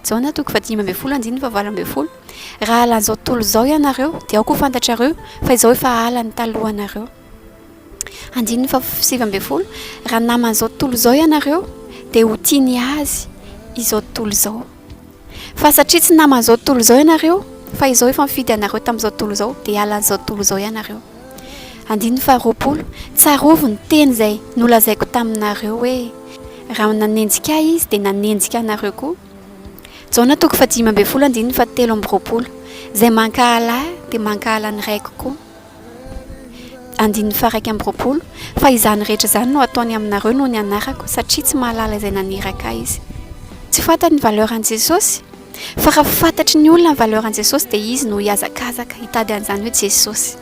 Jaona toko fahadimy ambin'ny folo andininy fahavalo ambin'ny folo Raha halan'izao tontolo izao ianareo, dia aoka ho fantatrareo fa Izaho efa hahala ny talohanareo. Andininy fahasivy ambin'ny folo Raha naman'izao tontolo izao ianareo, dia ho tia ny azy izao tontolo izao. Fa satria tsy naman'izao tontolo izao ianareo, fa Izaho efa nifidy anareo tamin'izao tontolo izao, dia halan'izao tontolo izao ianareo. Andininy faharoapolo, Tsarovy ny teny izay nolazaiko taminareo hoe, Raha nanenjika Ahy izy, dia nanenjika anareo koa. Jaona toko fahadimy ambin'ny folo andininy fahatelo amby roapolo, Izay mankahala Ahy dia mankahala ny Raiko koa. Andininy faha-iraika amby roapolo, Fa izany rehetra izany no hataony aminareo noho ny anarako, satria tsy mahalala izay naniraka Ahy izy. Tsy fantany ny valeur an'i Jesosy. Fa raha fantatry ny olona ny valeur an'i Jesosy dia izy no hihazakazaka hitady an'izany hoe Jesosy.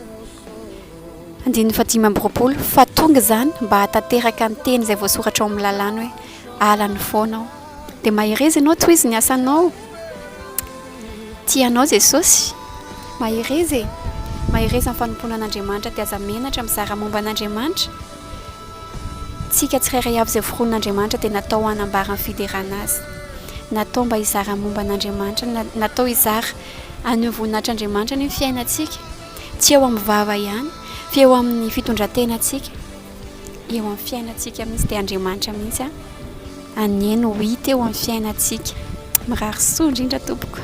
Andininy fahadimy amby roapolo, fa tonga izany mba hahatanteraka ny teny izay voasoratra ao amin'ny lalàna hoe ala ny fonao. Dia mahereza ianao toy izy ny asanao. Tia anao Jesosy. Mahereza e. Mahereza amin'ny fanompoana an'Andriamanitra dia aza menatra mizara momba an'Andriamanitra. Tsika tsirairay avy izay foron'Andriamanitra dia natao hanambara ny fiderana Azy. Natao mba hizara ny momba an'Andriamanitra. Natao hizara an'io voninahitr'Andriamanitra io ny fiainantsika. Tsy eo amin'ny vava ihany, fa eo amin'ny fitondran-tenantsika, eo amin'ny fiainantsika mihitsy. Dia Andriamanitra mihitsy anie no hita eo amin'ny fiainantsika. Mirary soa indrindra tompoko.